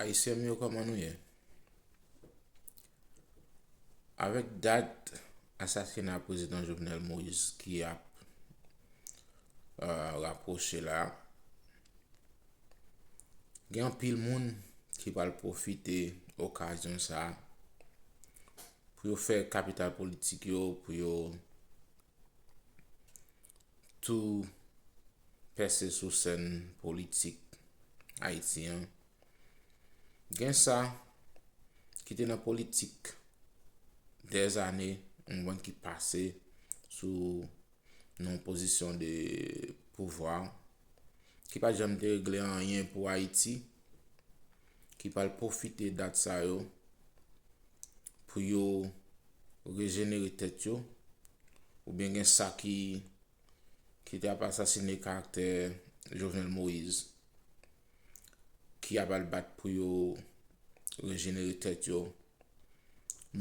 Ayisyen m yo kòman nou ye? Avèk dat asasina prezidan Jovenel Moïse ki ap rapwoche la, gen anpil moun ki pral pwofite okazyon sa a pou yo fè kapital politik yo, pou yo tou pèse sou sèn politik Ayiti an, gen sa ki te nan politik dèzane mwen ki pase sou nan pozisyon de pouvwa, ki pa t janm te regle anyen pou Ayiti. ki pral pwofite dat sa yo pou yo rejenere tèt yo, oubyen gen sa ki ki te ap asasine karaktè Jovenel Moïse ki ap al bat pou yo rejenere tèt yo,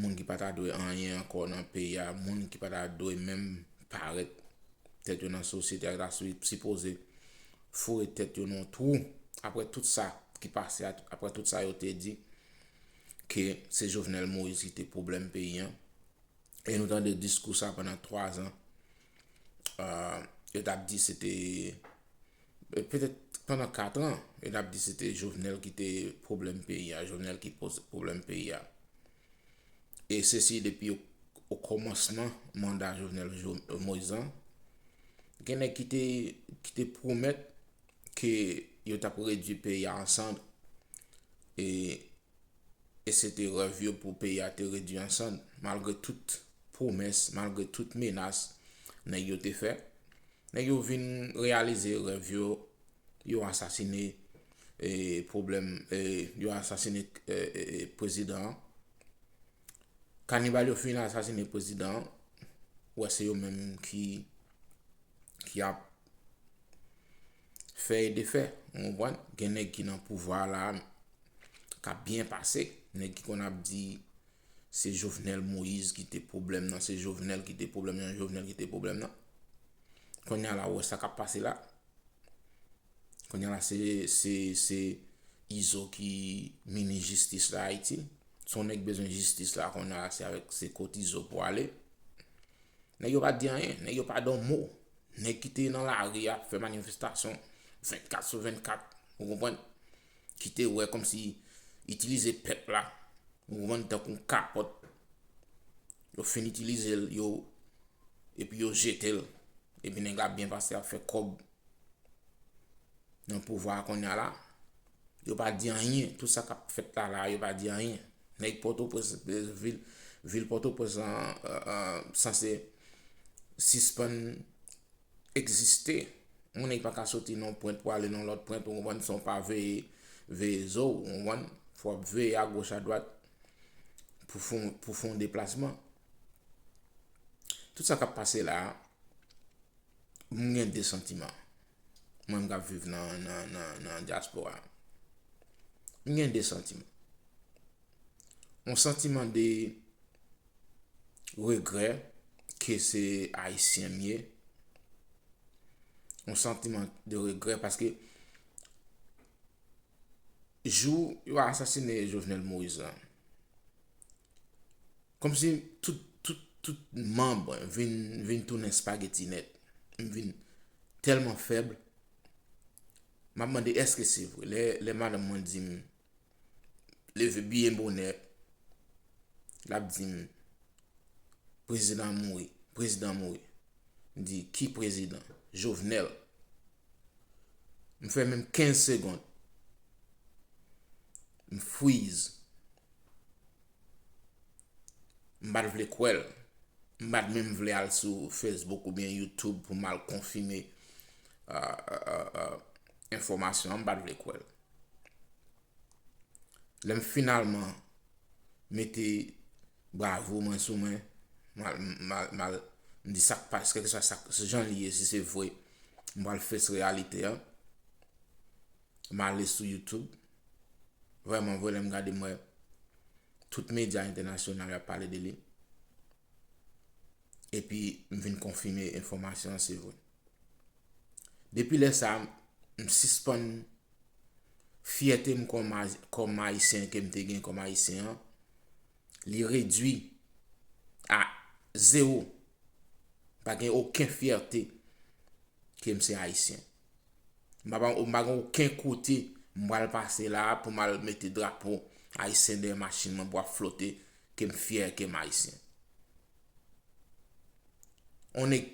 moun ki pa ta dwe anyen ankò nan peyi a, moun ki pa ta dwe menm parèt tèt yo nan sosyete a, ki ta sipoze foure tèt yo nan yon twou aprè tout sa ki pase a, aprè tout sa yo te di ke se Jovenel Moïse ki te pwoblèm peyi an e nou tande diskou sa pandan 3 zan yo tap di se te petèt pandan 4 an yo tap di se te Jovenel ki te pwoblèm peyi a, Jovenel ki koz pwoblèm peyi a. E se si depi o kòmansman manda Jovenel Moïse lan, gen nèg ki te pwomèt ke yo t ap redui peyi a an sand, e se te rèv yo pou peyi a te redui an sand, malgre tout pwomès, malgre tout menas nèg yo te fè, nèg yo vin reyalize rèv yo Yo asasine problem yo asasine prezidan an kanibal yo fin asasine prezidan an ou wè se yo menm ki ki ap fè e defè ou konprann gen nèg ki nan pouvwa la kap byen pase nèg ki konn ap di Se jovenel moise ki te pwoblèm nan se jovenel ki te pwoblèm nan jovenel ki te pwoblèm nan konnya la ou wè sa kap pase la konnya la se se se izo ki minis jistis la ayiti si yon nèg bezwen jistis la konnya la se avèk se kot izo pou ale nèg yo pa di anyen nèg yo pa di yon mo nèg ki te nan lari a ap fè manifestasyon 24 sou 24 ou konprann ki te wè kòmsi itilize pèp la mouvman n tankou yon kapòt yo fin itilize l yo epi yo jete l epi nèg la ap byen pase ap fè kòb nan pouvwa a kounye a la yo pa di anyen tout sa k ap fèt la la yo pa di anyen nèg pòtoprens vil vil pòtoprens lan sanse sispann egziste. Moun e pa ka soti nan yon pwent pou ale nan yon lòt pwent, ou konprann, san w pa veye, veye zo w, ou konprann. Fò w ap veye agoch adwat pou fè yon, pou fè yon deplasman. Tout sa k ap pase la a, m gen de santiman. Mwen menm k ap viv nan, nan, nan, nan dyaspora. M gen de santiman. Yon santiman de regrè ke se Ayisyen m ye, yon santiman de regrè paske jou yo asasine Jovenel Moïse la, kòm si tout manm vin tounen spageti nèt, m vin tèlman fèb, m ap mande eske se vre, lè madanm mwen di m leve byen bonè, l ap di m, prezidan mouri, prezidan mouri. M di, ki prezidan? Jovenel. M fè menm 15 segond, m fwiz. M pa t vle kwè l. M pa t menm vle al sou Facebook oubyen YouTube pou m al konfime enfòmasyon an, m pa t vle kwè l. Lè m finalman mete bravo mwen sou mwen, mal m di sak pas, kèlke swa sak, se jan li ye, si se vwe, m pral fes reyalite an. M ale sou YouTube, vwèman vwe lè m gade m wè, tout medya entènasyonal ap pale de li. epi m vin konfime enfòmasyon an se vre. Depi lè sa, m sispann fyète m kòm Ayisyen ke m te gen kòm Ayisyen an, li redui a zewo. Pa gen oken fyète ke m se Ayisyen. Mpa gen oken kote m pral pase la a pou m al mete drapo ayisyen dèyè machin mwen pou ap flote ke m fyè ke m ayisyen. On nèg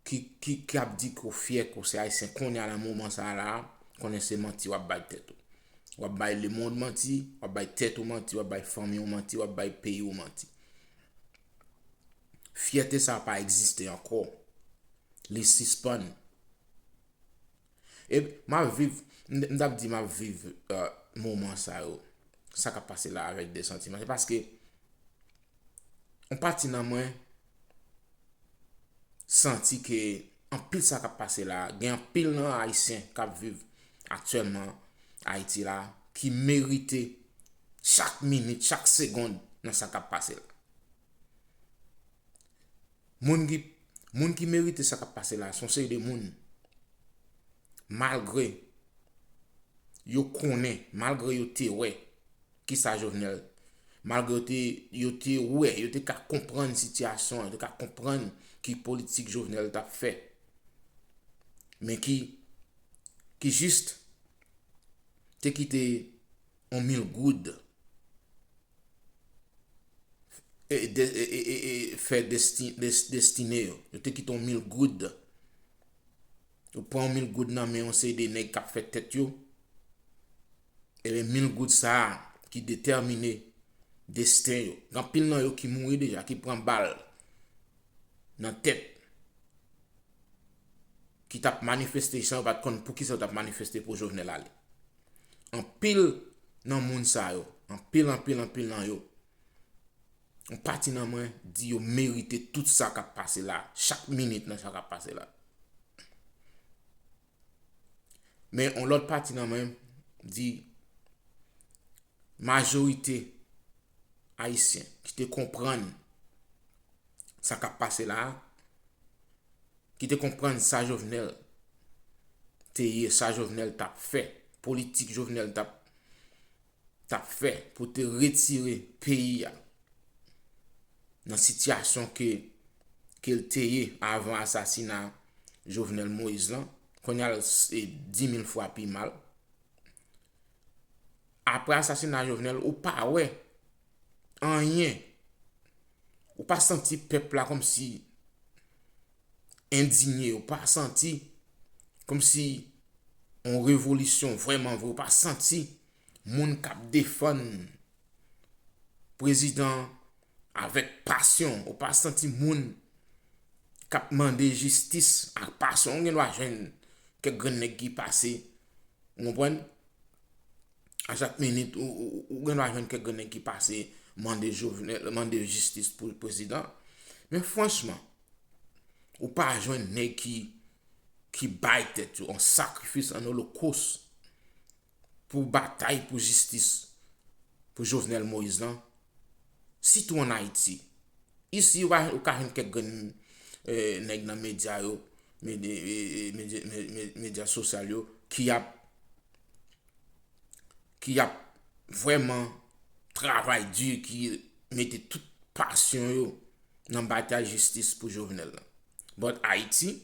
ki ap di ke w fyè ke w se ayisyen kounye a nan moman sa a la a, konnen se manti w ap bay tèt ou. W ap bay lemonn manti, w ap bay tèt ou manti, w ap bay fanmi w manti, w ap bay peyi w manti. Fyète sa a pa egziste ankò. Li sispann. E map viv, m tap di map viv moman sa yo. Sa kap pase la avèk de santiman. Se paske, yon pati nan mwen, santi ke, anpil sa kap pase la, gen anpil nan ayisyen kap viv aktyèlman Ayiti la, ki merite chak minit, chak segond nan sa kap pase la. Moun ki Moun ki merite sa kap pase la son seri de moun malgre yo konnen malgre yo te wè kisa Jovenel malgre yo te wè yo te ka konprann sitiyasyon yo te ka konprann ki politik Jovenel tap fè men ki ki jis te kite On mil goud fè destine yo. Yo te kite on mil goud. Yo pran on mil goud nan men on seri de nèg kap fè tèt yo. Ebe mil goud sa a ki detèmine desten yo. Gan pil nan yo ki mouri deja, ki pran bal nan tèt. Ki tap manifeste san yo pat konn pou ki sa yo tap manifeste pou Jovenel ale. Anpil nan moun sa yo, anpil anpil anpil nan yo, yon pati nan mwen di yo merite tout sa kap pase la, chak minit nan sa kap pase la. Men yon lòt pati nan mwen di majorite Ayisyen ki te konprann sa k ap pase la a, ki te konprann sa Jovenel te ye, sa Jovenel t ap fè, politik Jovenel t ap fè pou te retire peyi a nan sitiyasyon ke l te ye avan asasina Jovenel Moïse lan, kounye a l se 10 mil fwa pi mal. Aprè asasina Jovenel ou pa wè anyen. Ou pa santi pèp la kòm si endinye. Ou pa santi kòm si yon revolisyon vwèman vwe. Ou pa santi moun kap defann prezidan avèk pasyon. Ou pa santi moun kap mande jistis ak pasyon. Ou gen dwa jwenn kèk grenn nèg ki pase. Ou konprann? A chak minit, ou gen dwa jwenn kèk grenn nèg ki pase mande Jovenel, mande jistis pou prezidan. Men franchman, ou pa jwenn nèg ki bay tèt yo an sakrifis, an olokos pou batay pou jistis pou Jovenel Moïse lan. sitou an Ayiti. Isi, ou ka jwenn kèk grenn nèg nan medya yo, medya sosyal yo, ki ap ki ap vwèman travay di, ki mete tout pasyon yo nan batay jistis pou Jovenel la. But Ayiti,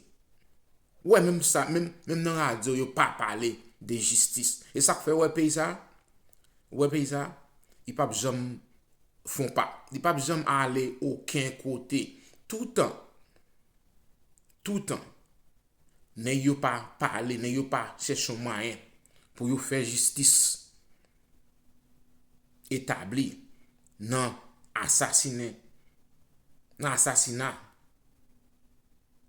Ou wè menm sa menm menm nan radio yo pa pale de jistis e sak fè ou wè peyi sa ou wè peyi sa li pap janm fon pa li pap janm ale oken kote toutan toutan nèg yo pa pale nèg yo pa chèche yon mwayen pou yo fè jistis etabli nan asasinen nan asasina.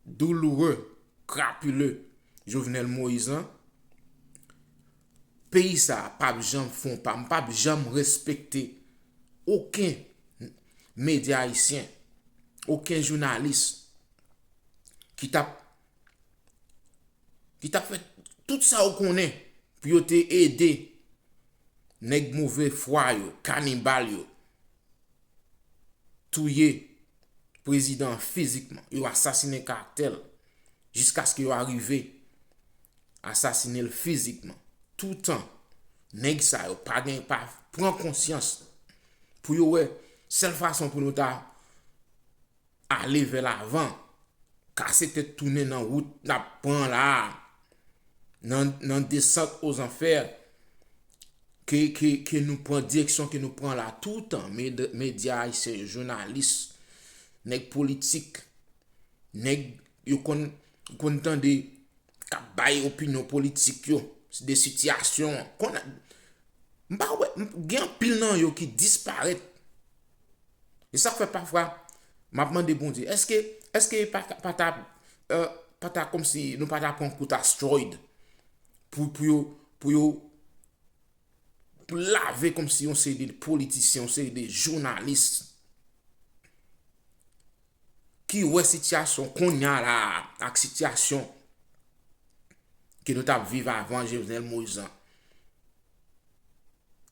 douloureux, crapuleux Jovenel Moïse lan, peyi sa a pap janm fè yon pa, m pap janm respekte oken medya ayisyen, oken jounalis ki tap ki tap fè tout sa yo konnen pou yo te ede nèg move fwa yo, kanibal yo. touye prezidan an fizikman, yo asasinen karaktè l, jiskaske yo arive asasinen l fizikman. Toutan nèg sa yo pa gen, pa pran konsyans pou yo wè sèl fason pou nou ta ale vè lavan, kase tèt tounen nan wout n ap pran la a, nan desant o zanfè ke nou pran, direksyon ke nou pran la a toutan, medya ayisyen yo, jounalis, nèg politik, nèg yo konn tande k ap bay opinyon politik yo de sitiyasyon an. M pa wè, gen anpil nan yo ki disparèt E sa k fè pafwa m ap mande Bondye, èske, èske e pa ta, pa ta, pa ta kòmsi nou pa ta pran kout asteroid pou, pou yo, pou yo lave kòmsi yon seri de politisyen, yon seri de jounalis ki wè sitiyasyon konnya la a ak sitiyasyon ke nou t ap viv avan Jovenel Moïse lan.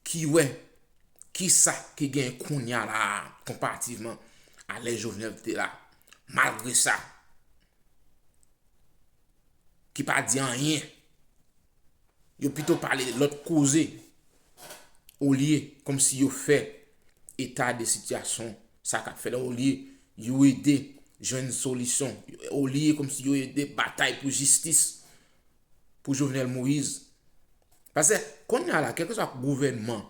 ki wè kisa ki genyen kounya la a konparativman a lè Jovenel te la. Malgre sa, ki pa di anyen, yo pito pale lòt koze olye kòm si yo fè eta de sitiyasyon sa kap fè la, olye yo ede jwenn solisyon, olye kòm si yo ede batay pou jistis. pou Jovenel Moïse. Pase, konn ya la, kèlke sa gouvènman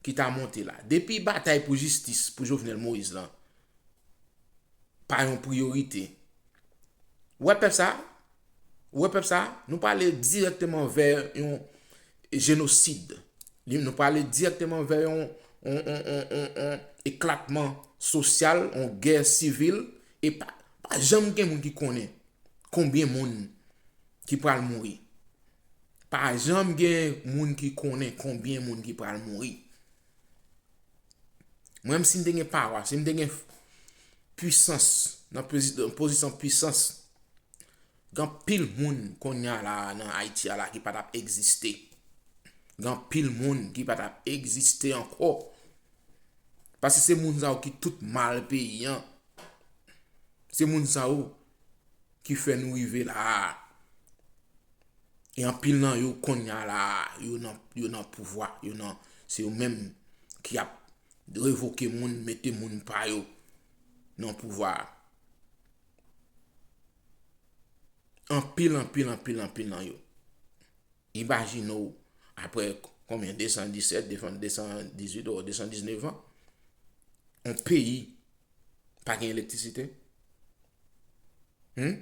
ki ta monte la, depi batay pou jistis pou Jovenel Moïse lan, pa yon priorite. Ou wè pèp sa, ou wè pèp sa, nou pale direkteman vè yon jenosid. Nou pale direkteman vè yon eklatman sosyal, yon gè sivil, e pa janm gen moun ki konnen. konbyen moun ki pral mouri. Pa janm gen moun ki konnen konbyen moun ki pral mouri. Mwen menm si m te gen pawa, si m te gen pwisans, nan pozisyon pwisans, gen anpil moun konnya la nan Ayiti a la ki pa t ap egziste. Gen anpil moun ki pa t ap egziste ankò. Paske se moun sa yo ki tout mal peyi an. Se moun sa yo ki fè nou rive la a. E anpil nan yo konnya la a, yo nan pouvwa, yo nan, se yo menm ki ap revoke moun, mete moun pa yo nan pouvwa a. Anpil, anpil, anpil, anpil nan yo. Imajine w, apre konbyen 217, 218 ou 219 an, yon peyi pa gen elektrisite. Hum?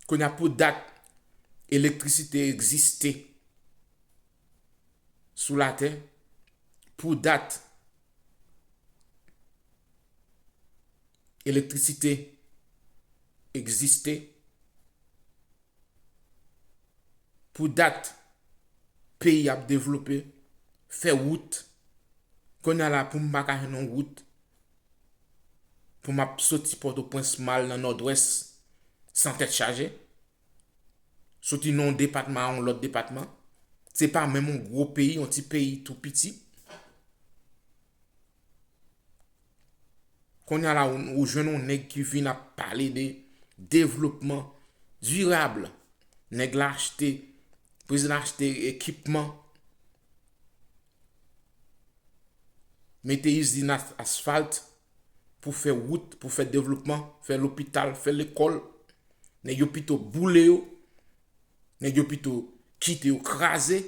Konya pou dat elektrisite egziste sou latè, pou dat elektrisite egziste pou dat peyi ap devlope fè wout kounye la poum pa ka jwenn yon wout pou map soti pòtoprens mal nan nòdwès san tèt chaje soti nan yon depatman a yon lòt depatman se pa menm yon gwo peyi yon ti peyi tou piti. Konnya la ou jwenn yon nèg ki vin ap pale de devlopman dirab. Nèg la achte, prezidan an achte ekipman, mete izin asfalt pou fè wout, pou fè devlopman, fè lopital, fè lekòl. Nèg yo pito boule yo, nèg yo pito kite yo kraze.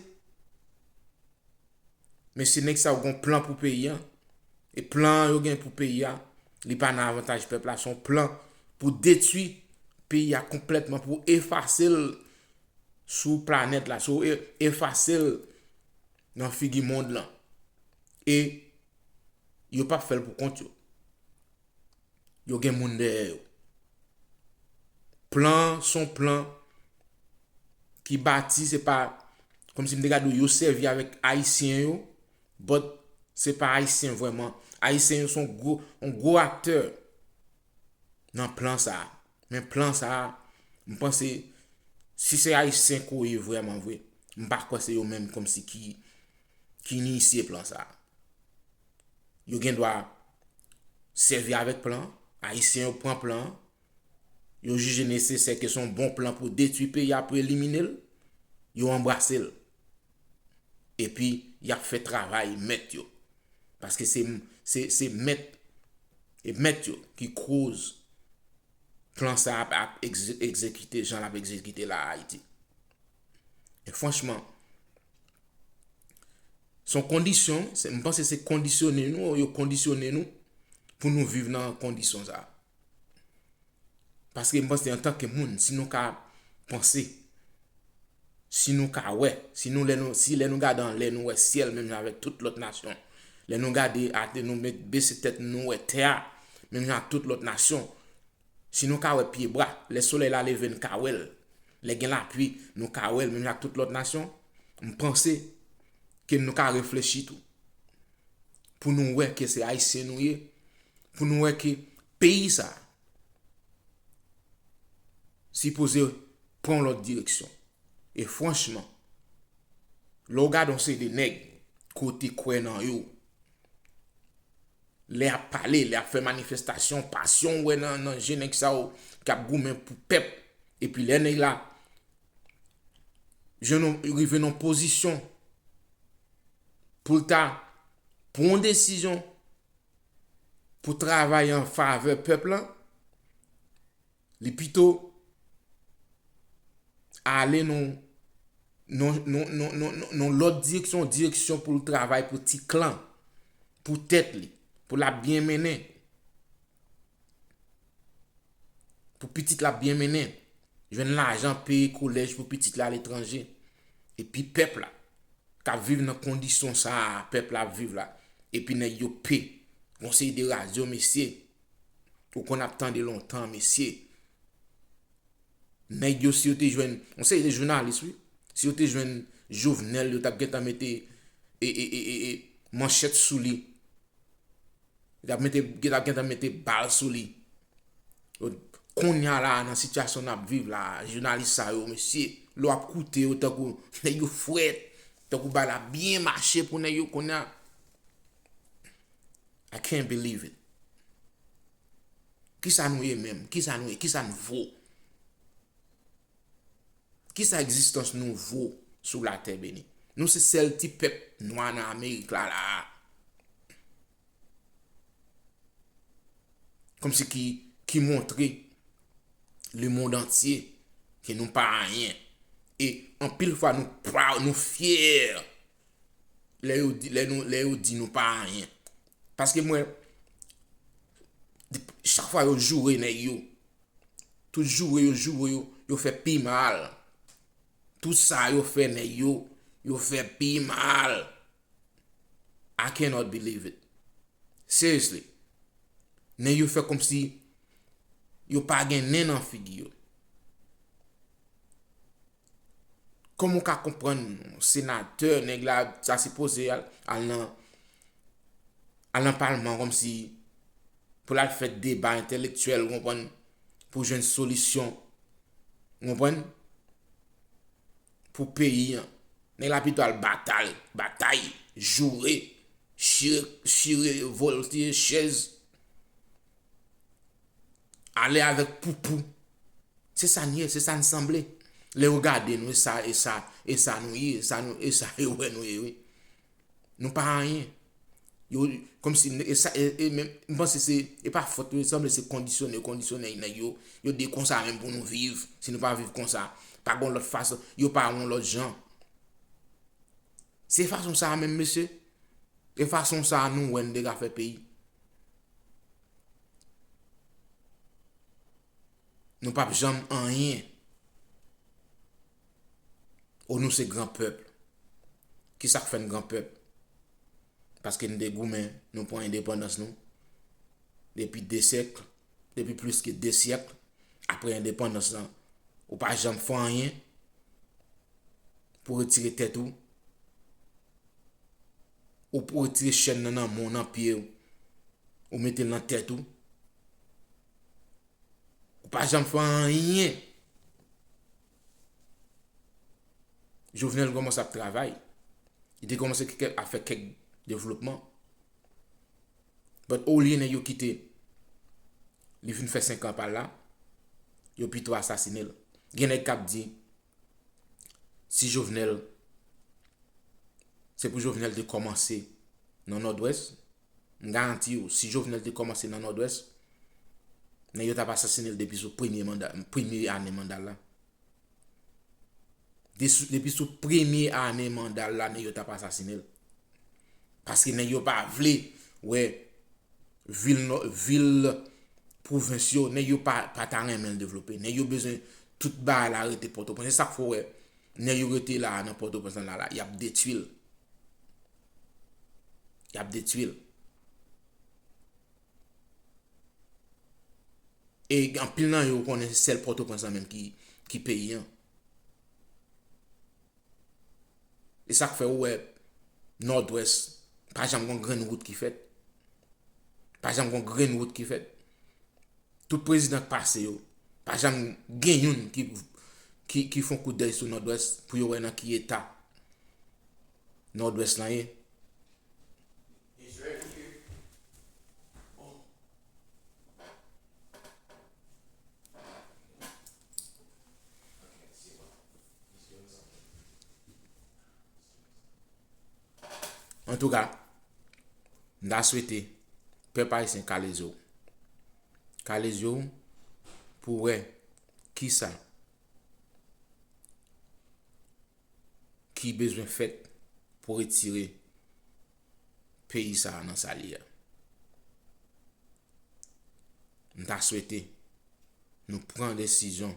Mesye nèg sa yo gon plan pou peyi an e plan yo gen pou peyi a li pa nan avantaj pèp la son plan pou detwi peyi a konplètman pou efasel sou planèt la sou efasel nan figi mond lan e yo pap fèl pou kont yo yo gen moun dèyè yo. Plan an son plan ki bati se pa kòm si m te gade yo sèvi avèk ayisyen yo but se pa ayisyen vrèman. Ayisyen yo son gwo yon gwo aktè nan plan sa a. Men plan sa a m panse si se ayisyen ke w ye vrèman vre m pa kwè se yo menm kòm si ki inisye plan sa a. yo gen dwa sèvi avèk plan an, Ayisyen yo pran plan an, yo jije nesesè ke se yon bon plan pou detwi peyi a, pou elimine l, yo anbrase l. Epi, y ap fè travay mèt yo. Paske se mèt e mèt yo ki koz plan sa a ap egzekite jan l ap egzekite la a Ayiti. Franchman, Son kondisyon, m panse se kondisyone nou, yo kondisyone nou pou nou viv nan kondisyon sa. Paske m panse antan ke moun, si nou ka panse, si nou ka wè, si nou lè nou, si lè nou gade an lè nou wè syèl menm jan avèk tout lòt nasyon, lè nou gade atè nou met bese tèt nou wè tè a menm jan ak tout lòt nasyon, Si nou ka wè pye bwa, lè solèy la leve n ka wè l, lè gen lapui nou ka wè l menm jan ak tout lòt nasyon, m panse ke nou ka reflechi tou pou nou wè ke se Ayisyen nou ye, pou nou wè ke peyi sa a sipoze pran yon lòt direksyon. E franchman, lè w gade yon seri de nèg ke w te kwè nan yo, Lè yap pale, lè yap fè manifestasyon, pasyon ou wè nan je nèg sa yo ki ap goumen pou pèp. Epi lè nèg la jwenn yon, rive nan yon pozisyon pou l ta pran yon desizyon pou travay an favè pèp lan, Li pito ale nan lòt direksyon, yon direksyon pou l travay pou ti klan, pou tèt li, pou l ap byen mennen. Pou pitit la ap byen mennen. Jwenn lajan peye kolèj pou pitit la aletranje. E pi pèp la, k ap viv nan kondisyon sa a, pèp la ap viv la. E pi nèg yo pe. Konseye de radyo mesye. Ou konn ap tande lontan mesye. Nèg yo si yo te jwenn, yon seri de jounalis wi, si yo te jwenn Jovenel yo tap gentan mete e e e e e manchèt sou li. Yo tap mete, yo tap gentan mete bal sou li. Konnya la nan sitiyasyon nap viv la, jounalis sa yo mesye, lè wap koute yo tankou nèg yo frèt, tankou bagay la byen mache pou nèg yo konnya. I can't believe it. Kisa nou ye menm? Kisa nou ye? Kisa n vo? Kisa egzistans nou vo sou la tè beni? Nou se sèl ti pèp nwa nan Amerik la la a. Kòm si ki montre le mond antye ke nou pa anyen. E anpil fwa nou proud, nou fier lè yo di, lè nou, lè yo di nou pa anyen. Paske mwen, chak fwa yo joure nèg yo, tout joure yo joure yo, yo fè pi mal. Tout sa yo fè nèg yo, yo fè pi mal. I cannot believe it. Seriously. Nèg yo fè kòm si yo pa gen nen nan figi yo. Kòman w ka konprann senatè nèg la ta sipoze al nan al nan palman kòm si pou l al fè deba entèlektyèl ou konprann pou jwenn solisyon ou konprann pou peyi an. Nèg la pito al batal batay joure chire chire voltiye chèz Ale avèk poupou. Se sa n ye, se sa n sanble. Lè yo gade nou, e sa nou ye, e sa yo wè nou ye wi. Nou pa anyen. Yo, kòm si, e sa, e menm, m panse se, e pa fòt yo, sanble se kondisyone, kondisyone nèg yo. Yo di konsa menm pou nou viv, si nou pa viv konsa. Pa gon lòt fason, yo pa yon lòt jan. Se fason sa menm mesye? E fason sa nou wè n te ka fè peyi? Nou pap janm anyen. O nou se gran pèp. Ki sa k fè n gran pèp? Paske n te goumen, nou pran endepandans nou. Depi de syèk, depi plis ke de syèk, apre endepandans lan, ou pa janm fè anyen pou retire tèt ou Ou retire chèn nan nan men w, nan pye w, ou mete l nan tèt ou. Ou pa janm fè anyen. Jovenel kòmanse ap travay. Li te kòmanse ap fè kèk devlopman. But olye nèg yo kite li vin fè senkan pa l la, yo pito asasine l. Gen nèg k ap di si Jovenel se pou Jovenel te kòmanse nan Nòdwès m garanti ou si Jovenel te kòmanse nan Nòdwès nèg yo t ap asasine l depi sou premye manda premye ane manda l la depi sou premye ane manda l la nèg yo t ap asasine l. Paske nèg yo pa vle wè vil nò, vil pwovens yo, nèg yo pa ta renmen l devlope. Nèg yo bezwen tout bagay la rete Pòtoprens. Se sa k fè w wè nèg yo rete la a nan Pòtoprens lan la la, y ap detwi l. Y ap detwi l. E anpil nan yo konnen se sèl Pòtoprens lan menm ki peyi an. E sak fè ou wè Nòdwès pa janm gon grenn wout ki fèt. Pa janm gon grenn wout ki fèt. Tout prezidan k pase yo, pa janm gen youn ki fon kout dèy sou Nòdwès pou yo wè nan ki eta Nòdwès lan ye. An tou ka, m ta swete pèp ayisyen kale je ou. Kale je ou pou wè ki sa. ki bezwen fèt pou retire peyi sa a nan sa li a. M ta swete nou pran desizyon,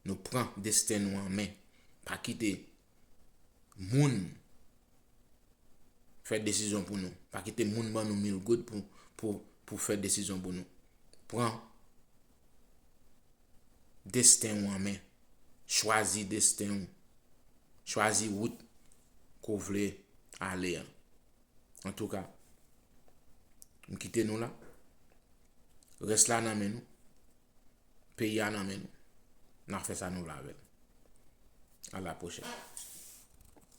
nou pran desten nou an men, pa kite moun fè desizyon pou nou, pa kite moun ban nou mil goud pou fè desizyon pou nou. Pran. desten ou an men. Chwazi desten ou. Chwazi wout ke w vle ale an. Antouka, m kite nou la. Rès la nan men nou. Peyi a nan men nou. N a fè sa nou vle avè l. A la pwochèn.